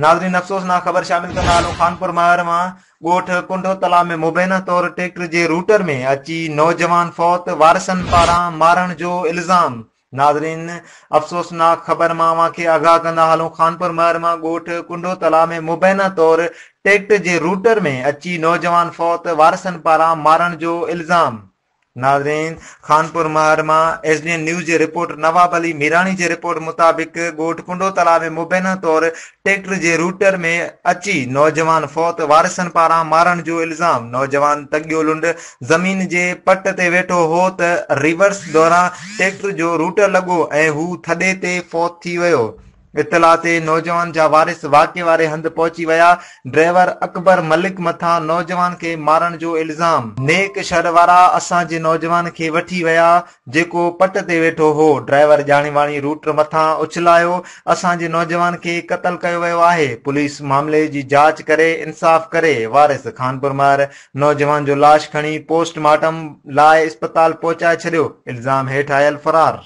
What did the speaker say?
ناظرين افسوسناڪ خبر شامل ڪندا هلون خانپور مهر مان ڳوٺ ڪنڊو تلا ۾ مبينا طور ٽريڪٽر جي روٽر ۾ اچي نوجوان فوت وارثن پاران مارڻ جو الزام ناظرين! افسوسناڪ خبر مان اوهان کي آگاهه ڪندا هلون خانپور مهر مان ڳوٺ ڪنڊو تلاء ۾ مبينا طور ٽيڪٽر جي روٽر ۾ اچي نوجوان فوت وارثن پاران مارڻ جو الزام. ناظرين! خانپور مهر مان ايس ڊي اين نيوز جي رپورٽ نواب علي ميراڻي جي رپورٽ مطابق ڳوٺ ڪنڊو تلاء ۾ مبينا طور ٽريڪٽر جي روٽر ۾ اچي نوجوان فوت، وارثن پاران مارڻ جو الزام، نوجوان تڳيو لنڊ زمين جي پٽ تي ويٺو هو ته ريورس دوران ٽريڪٽر جو روٽر لڳو ۽ هو ٿڏي تي فوت ٿي ويو، اطلاع تي نوجوان جا وارث واقعي واري هنڌ پهچي ويا، ڊرائيور اڪبر ملڪ مٿان نوجوان کي مارڻ جو الزام. نيڪ شھر وارا اسان جي نوجوان کي وٺي ويا، جيڪو پٽ تي ويٺو هو. ڊرائيور ڄاڻي واڻي روٽر مٿان اڇلايو، اسان جي نوجوان کي قتل ڪيو ويو آهي. پوليس معاملي جي جاچ ڪري انصاف ڪري. وارث خانپورمهر نوجوان جو لاش کڻي پوسٽ مارٽم لاء اسپتال پهچائي ڇڏيو، الزام هيٺ آيل فرار.